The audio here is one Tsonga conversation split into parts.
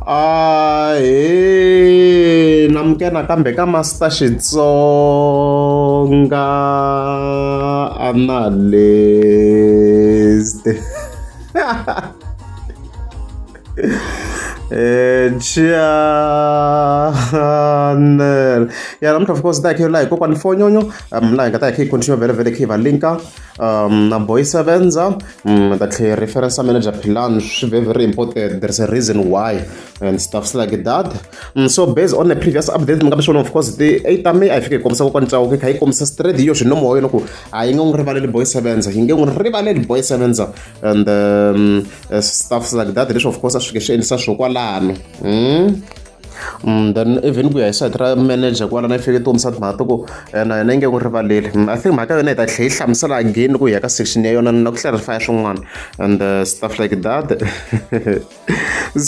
a he namke nakambe ka master xitsonga analyst Eh, channel ya namuntlha of course ta hi khe la hi kokwani fonyonyo um la hi nga ta hi khe hi continue vele vele khe hi va linka Um, na boy sevenza um, ta tlhe reference ya manager plan swi very very important there's a reason why and stuffs like that um, so based on the previous update mi nga mi swona of course ti eight ta me a yi fike yi kombisa kokwani cawo ku yi kha yi kombisa straight yo swi nomo wa yona ku a yi nga n'wi rivaleli boy sevenza yi nge n'wi rivaleli boy sevenza and um, uh, stuffs like that leswi of course a swi fike swi endlisa swo kwalano mm? Mm, then even ku ya hi side ra manager kwala na fike tikombisa timhaka to ku eh, na yena yi nge n'wi rivaleli mm, i think mhaka yona hi ta tlhe yi hlamusela again ku ya ka section ya yona na ku clarify swin'wana and uh, stuff like that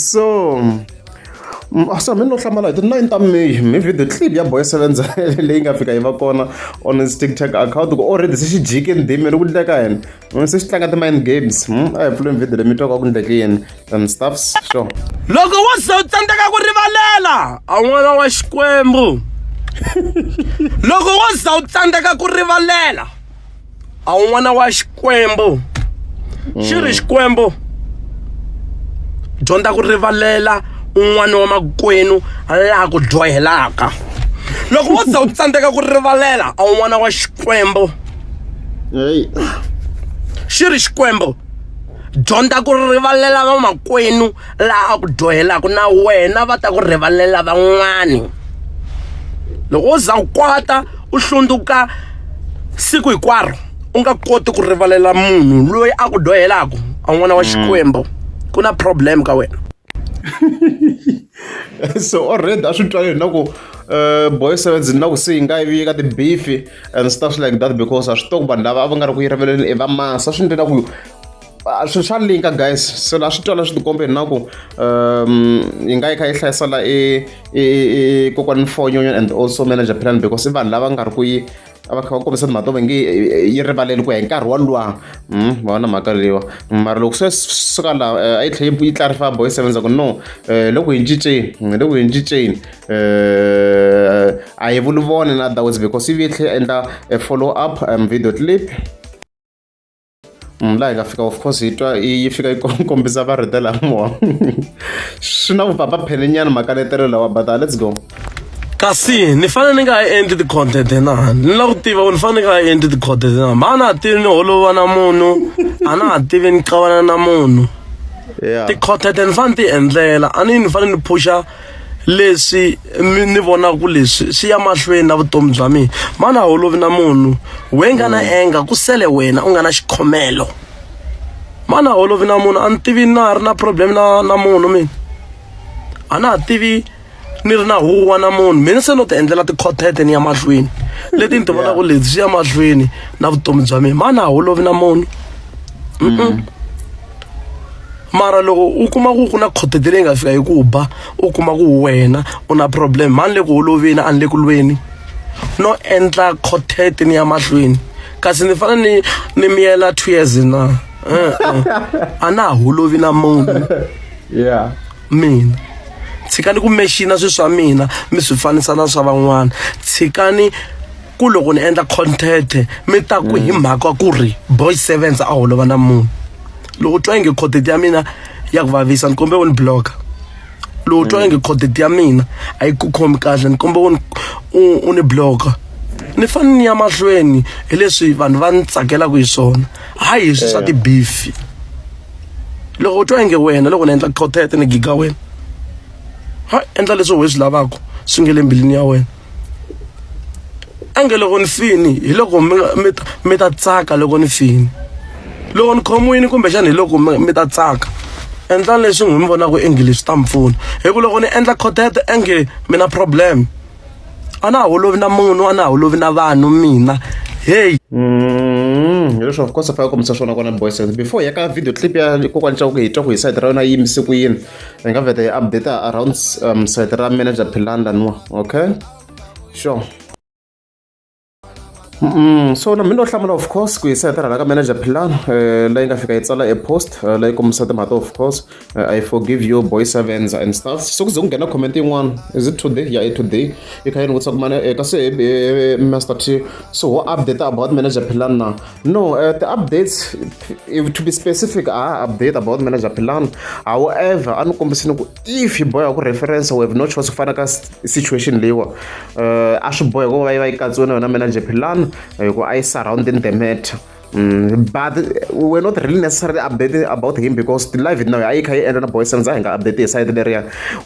so mm, ah, so mi no hlamala hi ti-nine ta may mi video clip ya boy sevenz leyi nga fika yi va kona on his tiktok account ku already se xi jike ndhimi ri ku dleka yena Mm, se swi tlanga ti-mind games mm, a hi pfuleni video leyi mi twaka ku ndleke yini and stuffs sure loko wo ze u tsandzeka ku rivalela a n'wana wa xikwembu loko wo za u tsandzeka ku rivalela a wu n'wana wa xikwembu xi ri xikwembu dyondza ku rivalela un'wana wa makwenu laha ku dyohelaka loko wo za u tsandzeka ku rivalela a wu n'wana wa xikwembu heyi xi ri xikwembu dyondza ku rivalela vamakwenu laha ku dyohelaka na wena va ta ku rivalela van'wani loko wo za u kwata u hlundzuka siku hinkwaro u nga koti ku rivalela munhu loyi a ku dyohelaka a n'wana wa xikwembu ku na problem ka wena so already a swi twaleni na ku boy sevens na ku se yi nga yi vi ka tibifi and stuff like that because a swi tiva ku vanhu lava a va nga ri ku yi riveleni i va masa swi ndlela ku swi swa linka guys so la swi twa la swi tikombe na ku um yi nga yi kha yi hlayisa la i kokwani fonyo and also manager plan because i vanhu lava nga ri ku yi a va kha va kombisa timhaka to va nge yi rivaleli ku ya hi nkarhi wolowa hmm, va va na mhaka leyiwa mara loko se suka laha eh, a yi tlhela yi clarify boy sevenza ku no eh, loko hi cinceni loko hi cinceni eh, a hi vuluvoni na those because ivi yi tlhela endla a follow up um, video clip mm, laha hi nga fika of course yi twa yi fika yi kombisa varheta lamo swi na vupapa phelenyana makaletelo lawa but uh, let's go kasi ni fanele ni nga ha endli ti-content na ni lava ku tiva ku ni fanele ni nga ha endli ti-content na ma a na ha tivi ni holova na munhu a na ha tivi ni qavana na munhu ti-content ni fanele ti endlela a ni ni fanele ni phuxa leswi mi ni vonaka ku leswi swi ya mahlweni na vutomi bya mina mana holovi na munhu we nga na enga ku sele wena u nga na xikhomelo mana holovi na munhu a ni tivi na ha ri na problem na na munhu mina a na ha tivi ni ri na huwa na munhu mina se no ti endlela tikhotete ni ya mahlweni leti ni ti vonaka leti swi ya mahlweni na vutomi bya mina mana holovi na munhu mara loko u kuma ku ku na khothete leyi nga fika hi ku ba u kuma ku wena u na problem mhani le ku holoveni a ni le ku lweni no endla khothete ni ya mahlweni kasi ni fane ni ni miyela two years na a na ha holovi na munhu yeah mina tshikani ku mexina swilo swa mina mi swi fanisa na swa van'wana tshikani ku loko ni endla content mi ta ku hi mhaka ku ri boy sevens a holova na munhu loko twa inge content ya mina ya ku vavisa ni kombe wo ni blocker loko twa inge content ya mina a yi ku khomi kahle ni kombe wo ni- u- u ni blocker ni fanele ni ya mahlweni hi leswi vanhu va ni tsakelaka hi swona hayi hi swi swa tibifi loko u twa inge wena loko ni endla content ni giga wena ha endla leswi why swi lavaka swi nge le mbilwini ya wena a nge loko ni fini hi loko mi mi mi ta tsaka loko ni fini loko ni khomiwini kumbexana hi loko mi ta tsaka endlani leswi n'wi mi vonaka english swi ta mi pfuna hi ku loko ni endla khotete enge mi na problem a na ha holovi na munhu a na ha holovi na vanhu mina heyi mm, hi leswi of course a fanele kombisa swona kona boys before ya ka video clip ya kokwani xa ku hi twa ku hi side ra yona yi yimise ku yini hi nga vheta hi update around um, site ra manager philan laniwa okay sure Mm, so na mina no hlamula of course ku yisa tirha ka manager Philan eh la nga fika yi tsala e post eh, la yi kombisa timhaka of course eh, I forgive you boy sevens and stuff so ku ze ku nghena comment yin'wana is it today yeah it today yi kha yi ni vutisa ku mane eh, kasi eh, eh, Master T so ho update about manager Philan na No, uh, the updates, if, to be specific, are update about manager plan. However, I'm not if you boy a reference, we have no choice of a situation. Lewa, uh, I should boy go by my manager plan, I go I surround in the matter. Mm, but we're not really necessarily updating about him because the live now ayikha yi endla na boy senza hi nga update hi side leriya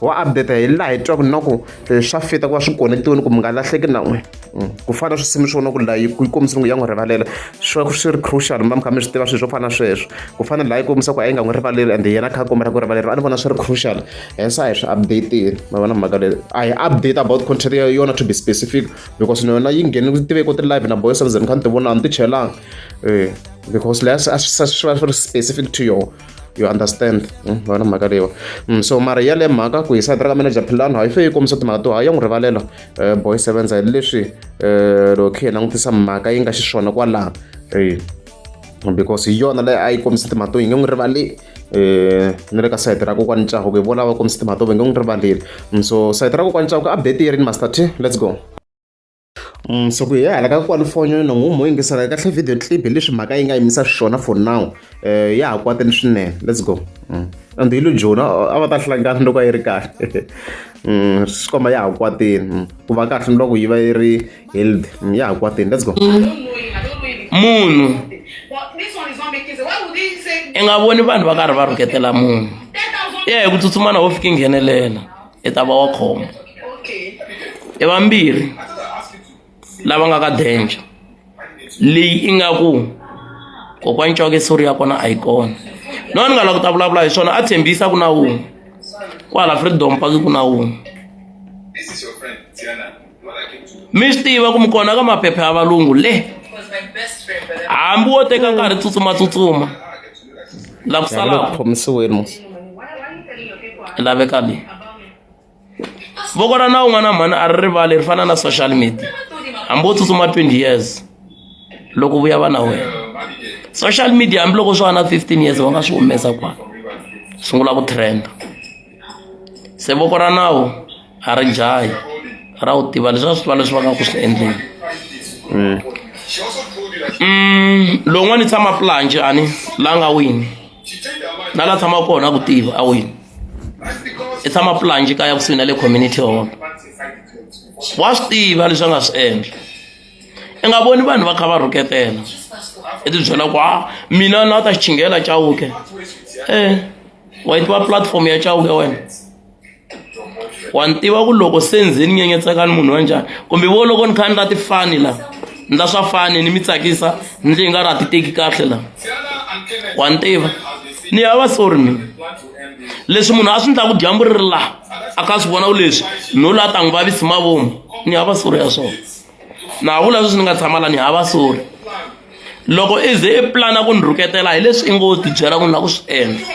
wa update hi laha hi twaku na ku swa fita ku va swi konetiwini ku mi nga lahleki na n'we mm. ku fana na swisimi swo na ku layi ku kombisa ku ya n'wi rivalela swi va swi ri crucial mi va mi kha mi swi tiva swilo swo fana na sweswo ku fana layi kombisa ku a yi nga n'wi rivaleli and yena kha a kombela ku rivaleriwa a ni vona swi ri crucial hence a hi swi updatile ma vona mhaka leyi a hi update about content ya yona to be specific because na yona yi ngheni ku tive ko ti live na boys and zen kha ni ti vona a ni ti chelanga um because leya swi va swi ri specific to yona you understand hmm, vona mhaka leyiwa hmm, so mara ya le mhaka ku hisa drug manager philano ha yi fe yi kombisa timhaka to ha ya n'wi rivalela eh, boy sevenza hi leswi eh, loko khe hi langutisa mhaka yi nga xiswona kwalaha because hi yona leyi a yi kombisa timhaka to yi nge n'wi rivali eh ni le ka sayiti ra kokwani ncaho ku hi vona va kombisa timhaka to va nge n'wi rivaleli mm, so sayiti ra kokwani ncaho ku update yi ri ni master t let's go So ku hi hala ka kwala foni ni ngo mu yingisela kahle video clip hi leswi mhaka yi nga yimisa xiswona for now ya ha kwatile swinene let's go and hi lujona a va ta hlangana loko a yi ri kahle swi komba ya ha kwatile ku va kahle ni loko yi va yi ri healthy ya ha kwatile let's go munhu i nga voni vanhu va karhi va rhuketela munhu ya hi ku tsutsumana wo fika nghenelela i ta va wa khombo i vambirhi lava nga ka danger leyi i nga ku kokwani coke sori ya kona a yi kona no ni nga lava ku ta vulavula hi swona a tshembisa ku na wun'we kwala freedom paki ku na wun'we mi swi tiva ku mi kona ka maphepha ya valungu le hambi wo teka nkarhi tsutsumatsutsuma la ku salaka khomisiweni musi laveka leyi voko ra na un'wana mhani a ri rivali ri fana na social media hambi wo tsutsuma 20 years loko vuya va na wena social media hambiloko swo va na 15 years va nga swi humesa kwana sungula ku trenda se voko ra nawu a ri dlayi ra wu tiva leswi a swi tiva leswi va nga ku swi endleni mm. mm, lowun'wana i tshama planche ani la nga wini na la tshama kona a ku tiva a wini i tshama planche kaya kusuhi na le community hall wa swi tiva leswi a nga swi endla i nga voni vanhu va kha va rhuketela i tibyela ku a ah, mina na ta xichingela chawuke e eh. wa yi tiva platform ya chauke wena wa ni tiva ku loko se ndzi ni nyenyetseka ni munhu wa njhani kumbe vo loko ni kha ni ra ti fani la ni ra swa fani ni mi tsakisa ndzi hi nga ra ti teki kahle la wa ni tiva ni ya va sorry mina leswi munhu a swi ndlaku dyambu ri ri laha a ka swi vona ku leswi no la ta n'wi vavisi mavomu ni ya va sorry ya swona na vula sweswi ni nga tshama la ni hava sori loko i ze i plana ku ni rhuketela hi leswi i ngo ti byela ku ni la ku swi endla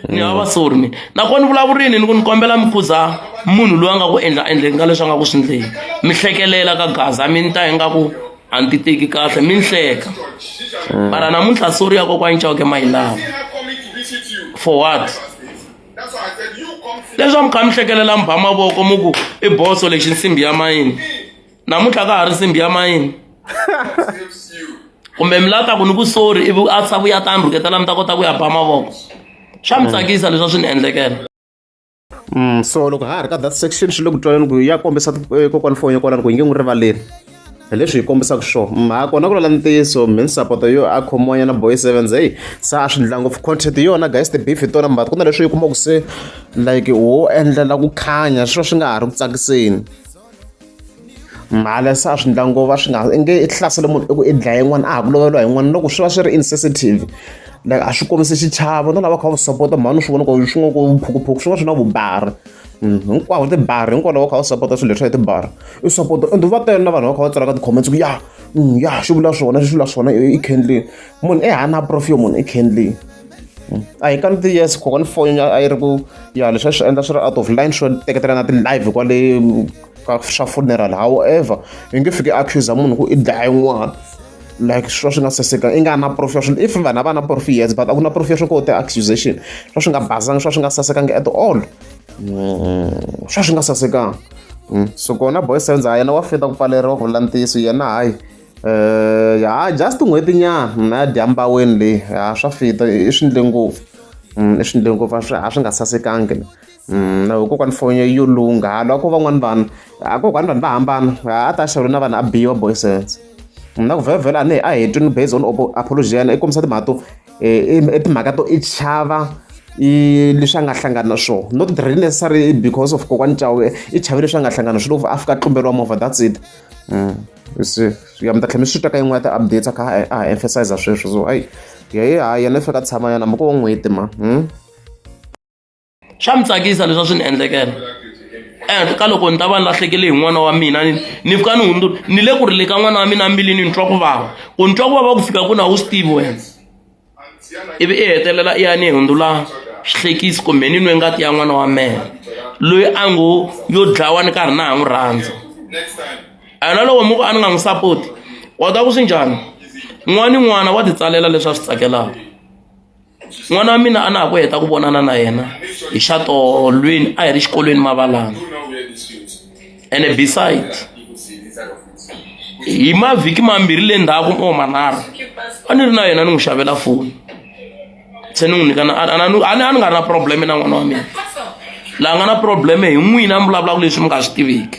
ni hava sori mina nakona ni vulavurini ni ku ni kombela mi khuza munhu loyi a nga ku endla endleni ka leswi a nga ku swi ndleni mi hlekelela ka gaza mi ni ta ingaku a ni ti teki kahle mi ni hleka mara namuntlha sori ya kokwani chawuke mayilava for what leswaku mi kha mi hlekelela mi ba mavoko mi ku i boso lexi nsimbi ya mayini namuntlha ka ha ri nsimbi ya mayini kumbe mi lava ta ku ni ku sori ivi a sa vuya ta ni rhuketela mi ta kota ku ya ba mavoko swa mi tsakisa leswi a swi ni endlekela Mm, so loko ha ha ri ka that section xi le ku twaneni ku ya kombisa eh, kokwani foni ya kwalani ku yi nge n'wi rivaleli hi leswi hi kombisaka swo mhaka kona ku lala ntiyiso mi ni sapoto yo a khomiwanyana boy sevens heyi se a swi ndla ngopfu content yona guys the beef hi tona mbat ku na leswi yi kumaka se like wo endlela ku khanya swi va swi nga ha ri ku tsakiseni mhala se a swi ndla ngova swi nga i nge i hlasele munhu i ku i dlaya yin'wana a ha ku loveliwa yin'wana loko swi va swi ri insensitive like a swi kombisi xichavo na lava kha va swi sapota mhani swi vona ku swi nga ku phukuphuku swi nga swi na vubari Mm, hinkwawo tibari hinkwawo va kha va sapota swilo leswa hi tibari i sapota ende va tele na vanhu va kha va tsalaka ti-comments ku ya mm, ya swi vula swona swi vula swona i candlin munhu i hana profi yo munhu i candlin mm. a hi kani ti yes kokwana foni a yi ri ku ya leswi a swi endla swi ri out of line swo teketela na ti-live kwale ka swa funeral however hi nge fiki accuse munhu ku i dlaye n'wana like swa swi nga saseka i nga na proof ya swilo if vanhu a va na proof yes but a ku na proof ya swo ko te accusation swa swi nga bazanga swa swi nga sasekanga at all mm, swa swi nga sasekanga mm, so kona boy senza ha yena wa feta ku pfaleriwa ku vula ntiyiso yena hayi um ya just n'hweti nyana na ya dyambaweni leyi ya swa fita i swi ndle ngopfu mm, i swi ndle ngopfu a swi nga sasekanga kokwani foni yo lungha halwa ko van'wani vanhu a kokwani vanhu va hambana a ta xavula na vanhu a biwa boy sense na ku vhevhela a ni a hetini based on apology ya yena i kombisa timhaka to i timhaka to i chava i leswi a nga hlangana na swona not really necessary because of kokwani cawe i chave leswi a nga hlangana swi loko a fika a tlumberiwa movha that's it se ya mi ta tlhela mi swi twa ka yin'wana ta updates a kha a ha emphasize sweswo so hayi yehe hayi yena i fika tshama yana mhaka wa n'hweti ma swa mi tsakisa leswi a swi ni endlekela ehenhla ka loko ni ta va ni lahlekele hi n'wana wa mina ni fika ni hundzula ni le ku ri le ka n'wana wa mina mbilini ni twa ku vava ku ni twa ku vava ku fika ku na wu swi tivi wena ivi i hetelela i ya ni hundzula swihlekisi kumbe ni nwe ngati ya n'wana wa mena loyi a ngo yo dlawa ni karhi na ha n'wi rhandza a na loko muku a ni nga n'wi sapoti kota ku swi njhani n'wana ni n'wana wa titsalela leswi a swi tsakelaka n'wana wa mina a na ha ku heta ku vonana na yena hi xa tolweni a hi ri xikolweni mavalana ene beside hi mavhiki mambirhi le ndzhaku or manharhu a ni ri na yena ni n'wi xavela foni se ni n'wi nyika a ni nga ri na probleme na n'wana wa mina laha nga na probleme hi n'wina mi vulavulaka leswi mi nga swi tiviki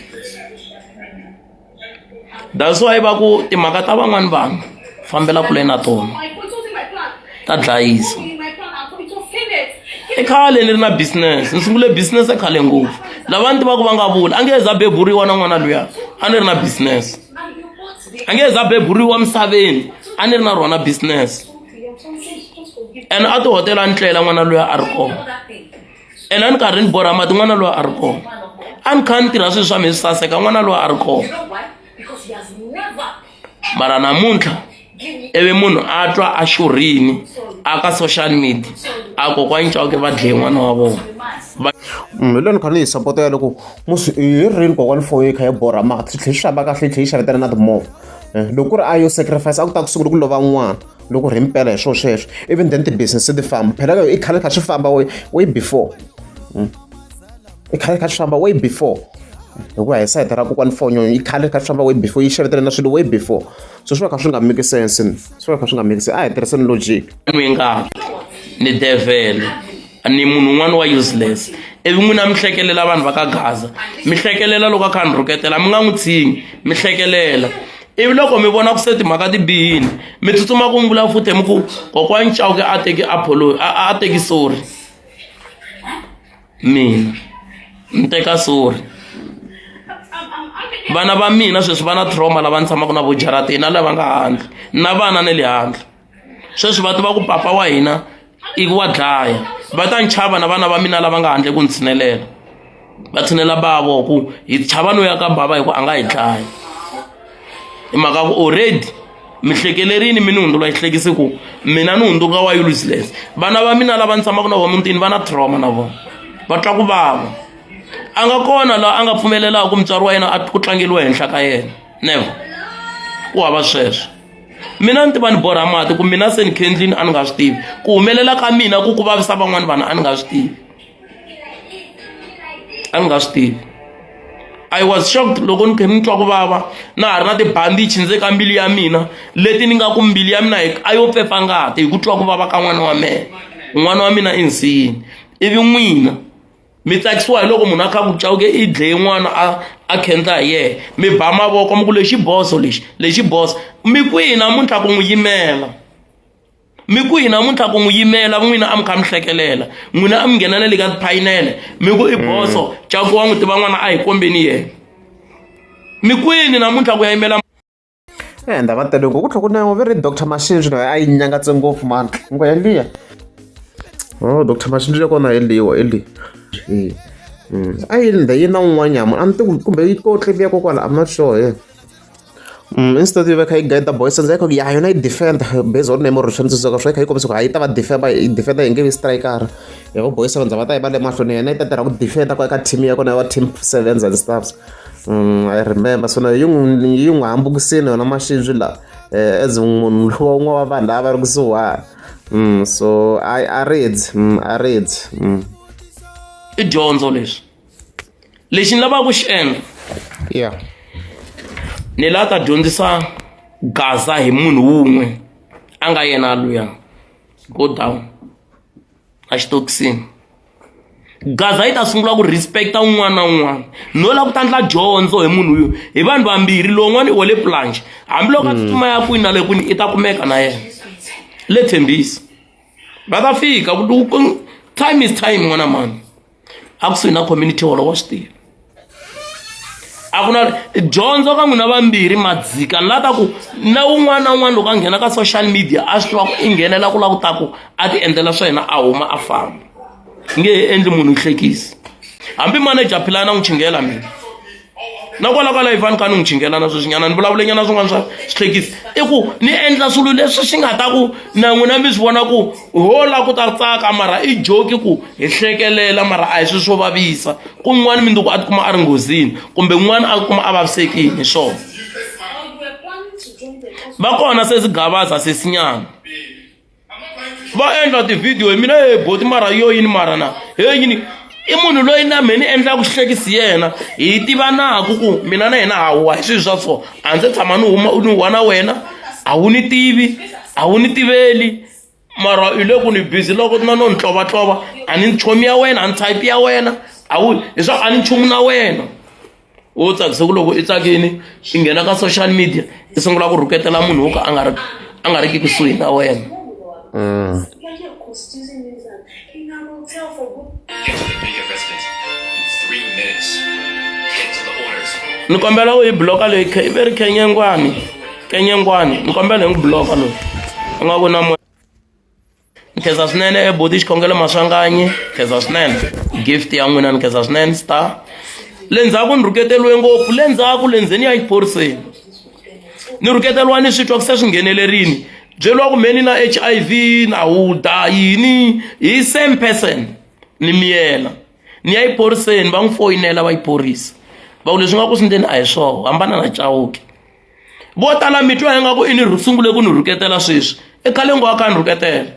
that's why va ku timhaka ta van'wani vanhu fambela kule na tona ta dlayisa i khale ni ri na business ni sungule business khale ngopfu lava ni tivaka va nga vula a nge za beburiwa na n'wana luya a ni ri na business a nge za beburiwa misaveni a ni ri na rona business and a tihotela a ni tlela n'wana luya a ri kona ene a ni karhi ni borha mati n'wana loyi a ri kona a ni kha ni tirha swilo swa mi swi saseka n'wana loyi a ri kona mara namuntlha ivi munhu a twa a xurhini a ka social media a kokwani cawuke va dleye n'wana wa vona mm, hi lweni kha ni yi sapota ya loko musi hi rini kokwani foni yi kha yi borha mati swi tlhe swi xava kahle yi tlhe yi xavetela na timovha eh, loko ku ri a yo sacrifice a ku ta ku sungula ku lova n'wana loko ri mpela hi swo sweswo even then ti-business ti famba phela ka yo i khale kha swi famba way before hmm? i khale kha swi famba way before hikuva hi sayita ra kokwani fonyo yi khale kha swi famba way before yi xavetele na swilo way before so swi va kha swi nga make sense swi va kha swi nga make sense a hi tirhiseni logic mi nga ni devele ni munhu un'wana wa useless ivi n'wina mi hlekelela vanhu va ka gaza mi hlekelela loko a kha ni rhuketela mi nga n'wi tshingi mi hlekelela ivi loko mi vona ku se timhaka ti bihini mi tsutsuma ku mbula futhi mi ku kokwani chauke a teki apolo a teki sorry mina ni teka sorry vana va mina sweswi va na trauma lava ni tshamaka na vo jaratini na lava nga handle na vana na le handle sweswi va tiva ku papa wa hina i wa dlaya va ta ni chava na vana va mina lava nga handle ku ni tshinelela va tshinela bavo ku hi chava no ya ka bava hi ku a nga hi dlaya hi mhaka ku already mi hlekelerini mi ni hundzula yi hlekisi ku mina ni hundzuka wa useless vana va mina lava ni tshamaka na vona mutini va na trauma na vona va twa ku vava a nga kona laha a nga pfumelelaka mutswari wa yena a ku tlangeriwa henhla ka yena never ku hava sweswo mina ni tiva ni borha mati ku mina se ni kendlini a ni nga swi tivi ku humelela ka mina ku ku vavisa van'wana vanhu a ni nga swi tivi a ni nga swi tivi i was shocked loko ni khe ni twa ku vava na ha ri na tibandichi ndze ka mbilu ya mina leti ni nga ku mbilu ya mina hi a yo pfefa ngati hi ku twa ku vava ka n'wana wa mina n'wana wa mina i nsiyini ivi n'wina mi tsakisiwa hi loko munhu a kha ku cawuke i dleye n'wana a a khendla hi yena mi ba mavoko mi ku lexi boso lexi lexi boso mi kwihi namuntlha ku n'wi yimela mi kwihi namuntlha ku n'wi yimela n'wina a mi kha mi hlekelela n'wina a mi ngheneleli ka tiphayinele mi ku i mm. boso caku wa n'wi tiva n'wana a hi kombeni yena mi kwini namuntlha ku ya yimela Eh, ndava tele ngoku tlhoko na ve ri doctor machine swilo a yi nyangatse ngopfu mani ngo yeliya o doctor machine ya kona yeliwa yeli a yi ndha yi na un'wanyama a ni ti kumbe yi ko tliviya ko kwala i'm not sure ye instead yo va kha yi guide boys ndzi yi kha ya yona yi defend based on name or swi tsundzuka swi kha yi kombisa ku ha yi ta va defender yi defender yi nge vi striker ya vo boys va ndza va ta yi va le mahlweni yena yi ta tirha ku defender ko eka team ya kona ya va team sevens and stuffs I remember so na yi n'wi yi n'wi hambukisile yona masibye lawa as munhu lowa un'wana wa vanhu lava va ri kusuhana so a a rindzi a rindzi i dyondzo leswi lexi ni lavaka ku xi endla ya ni lava ta dyondzisa gaza hi munhu wun'we a nga yena luya go down a xitokisini gaza yi ta sungula ku respecta un'wana na un'wana no lava ku ta ndla dyondzo hi munhu yo hi vanhu vambirhi lowun'wana i wale planche hambiloko a tsutsuma ya kwini na le kwini i ta kumeka na yena le tshembisi va ta fika time is time n'wana mani a kusuhi na community holo wa swi tiva a ku na dyondzo ka n'wina vambirhi madzika ni la ta ku na un'wana na un'wana loko a nghena ka social media a swi tiva ku i nghenela ku la ku ta ku a ti endlela swa yena a huma a famba nge he endli munhu hlekisi hambi manager philana n'wi chingela mina na kwala kwala ivani ka ni n'wi chingelana sweswinyana ni vulavulenyana swin'wana swa swihlekisi i ku ni endla swilo leswi swi nga ta ku na n'wina mi swi vona ku ho la ku ta tsaka mara i joki ku hi hlekelela mara a hi swi swo vavisa kun'wana mindzuku a tikuma a ri nghozini kumbe n'wana a kuma a vavisekile hi swona va kona sesi gavaza sesinyana va endla tivhidiyo hi mina he boti mara yo yini mara na he yini i munhu loyi na mina ni endlaka xihlekisi yena hi tivanaku ku mina na yena hawa hi swilo swa so a ndzi tshama ni huma ni huwa na wena a wu ni tivi a wu ni tiveli mara hi le ku ni busy loko na no ni tlovatlova a ni nchomi ya wena a ni type ya wena a wu leswaku a ni nchumu na wena wo tsakisa ku loko i tsakini i nghena ka social media i sungula ku rhuketela munhu wo ka a nga ri a nga ri ki kusuhi na wena mm. ni kombela u yi bloka leyi i ve ri kenyengwani kenyengwani ni kombela hi n'wi bloka loyi u nga ku na nkhensa swinene body xikhongelo maswanganyi nkhensa swinene gift ya n'wina ni nkhensa swinene star le ndzhaku ni rhuketeriwe ngopfu le ndzhaku le ndzeni ya exiphoriseni ni rhuketeriwa ni swi twa ku se swi nghenelerini byeriwa ku mheni na h i v na huda yini hi same person ni miyela ni ya exiphoriseni va n'wi foyinela va xiphorisa va ku leswi nga ku swi ndeni a hi swoho hambana na cawuke vo tala mi twa ingaku i ni sungule ku ni rhuketela sweswi i khale ngo a ka ni rhuketela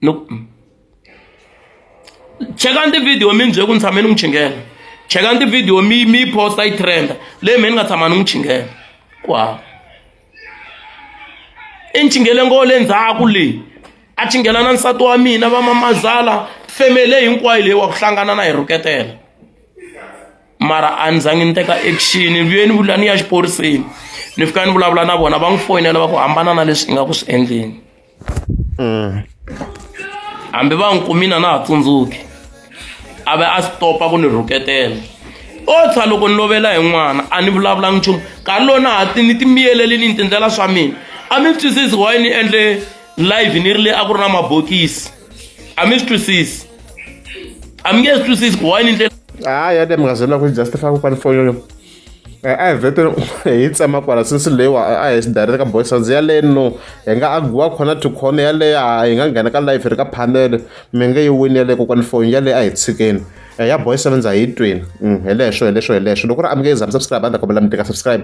no chekani tivhidiyo mi ni bye ku ni tshame ni n'wi chingela chekani tivhidiyo mi mi yi posta yi trenda leyi me ni nga tshama ni n'wi chingela ku hava i ni chingele ngo le ndzhaku leyi a chingela na nsati wa mina va mamazala femele hinkwayo leyi wa ku hlangana na hi rhuketela mara a ni zange ni teka action ni vuye ni vula ni ya xiphoriseni ni fika ni vulavula na vona va n'wi foyinela va ku hambana na leswi i nga ku swi endleni mm. hambi va n'wi kumina na ha tsundzuki a ve a stopa ku ni rhuketela o tshwa loko ni lovela hi n'wana a ni vulavulanga nchumu nkarhi lowu na ha ti ni ti miyeleli ni ni tindlela swa mina a mi twisisi why ni endle live ni ri le a ku ri na mabokisi a mi swi twisisi a mi nge swi twisisi ku why ni ndlela hayi yade mi nga zona ku justify kokwani foyolo eh, a hi vete hi tsema kwala since leyiwa a hi swi direct ka boys ndzi yaleyo no hi nga agiwa khona to khona yaleyo a hi nga nghena ka life ri ka phanele mi nge yi wini yaleyo kokwani foyini yaleyo a hi tshikeni eh, ya boys ndza hi twini mm, hi leswo hi leswo hi leswo loko ri a mi nge yi zami subscribe a ndzi ta kombela mi teka subscribe